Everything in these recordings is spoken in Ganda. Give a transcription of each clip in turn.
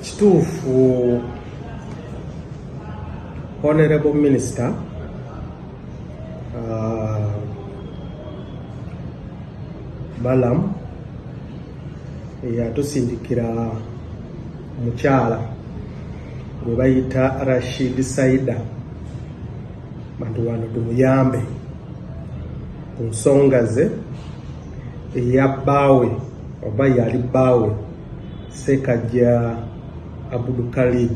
Kituufu Honorable Minister uh, Balaam eyatusindikira mukyala gwe bayita Rashid Saida bantu wano tumuyambe ku nsonga ze eya bbaawe oba yali bbaawe Ssekajja Abdu Khalid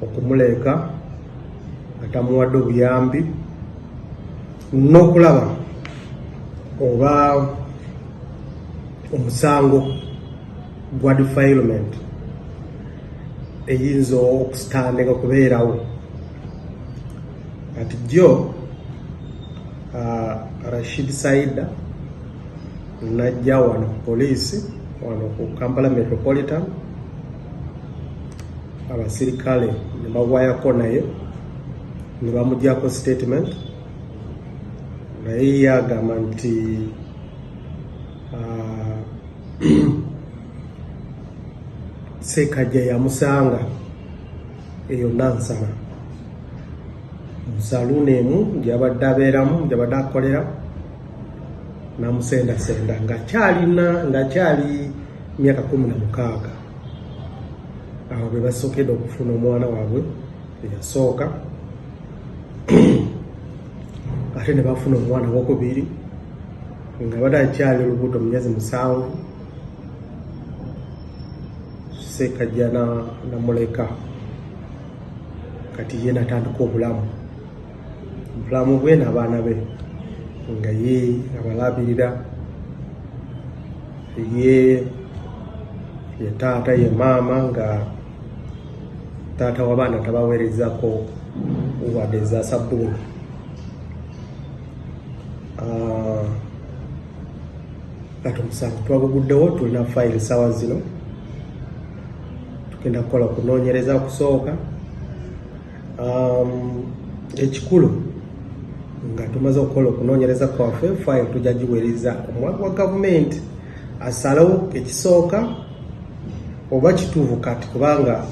okumuleeka nga tamuwadde obuyambi n'okulaba oba omusango gwa defilement eyinza okusitandika okubeerawo kati jjo uh, Rashid Saida najja wano ku poliisi wano ku kampala metropolitan abasirikale ne bawayako naye ne bamugyako statement naye yagamba nti ah, sekajja yamusanga eyo nansana musaluuni emu gyabadde abeeramu gyabadde akolera namusendasenda nga kyalina nga kyali myaka kumi na mukaaga awo bwe basokedde okufuna omwana waabwe eyasooka ate ne bafuna omwana wokubiri nga bade akyali olubuto mu myezi musanvu sekajja namuleka kati ye natandika obulamu bulamu bwe n'abaana be nga ye abalabirira ye ye taata ye maama nga taata w'abaana tabaweerezako wadde eza sabbuuni ah, kati omusango twaguguddewo tulina fayiro sawa zino tugenda kukola okunoonyereza okusooka um, ekikulu nga tumaze okukola okunoonyereza kwaffe file tujja giweereza omwaka wa gavumenti asalawo ekisooka oba kituufu kati kubanga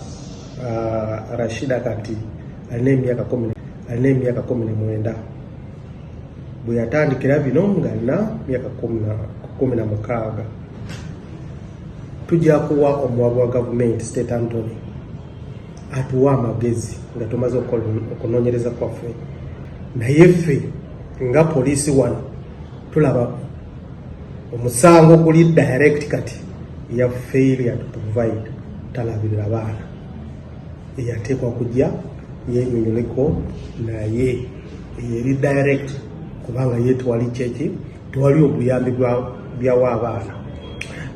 uh, rashida kati alina emyaka kumi alina emyaka kumi na mwenda bwe yatandikira bino nga alina myaka kumi na mukaaga tujja kuwa omuwabi wa gavumenti state antony atuwa amagezi nga tumaze okunonyereza kwaffe naye ffe nga poliisi wano tulaba omusango guli direct kati ya failure to provide talabirira baana eyateekwa kujja yenyonyoleko naye eyeri direct kubanga yetwali kyeki tewali obuyambi byawa abaana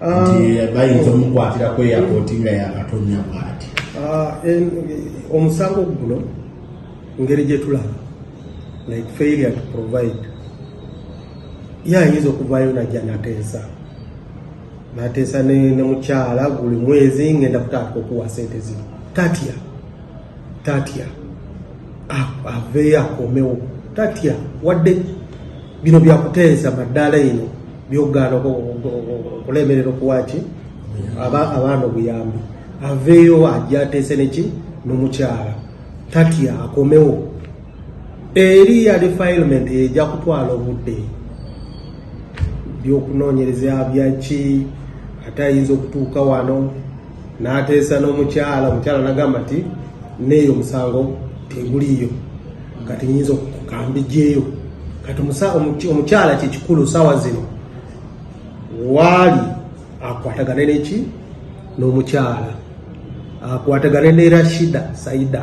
ah, bayinza omukwatira ku eyapooti nga yakatonya bwati ah, omusango guno ngeri gyetulaba like failure to provide ye ayinza okuvaayo najja nateesa nateesa ne mukyala buli mwezi ngenda kutandika okuwa sente zino tatya tatya aveeyo akomewo tatya wadde bino byakuteesa maddaala ino byogaana okulemerera okuwaki abaana obuyambi aveeyo ajateese neki nomukyala tatya akomewo eri ya defilement eja kutwala obudde byokunonyereza byaki ate ayinza okutuuka wano nateesa nomukyala omukyala nagamba nti neeyo omusango teguliyo kati nyinza okukambijjeeyo kati omukyala kyekikulu sawa zino waali akwatagane neki n'omukyala akwatagane ne rashida saida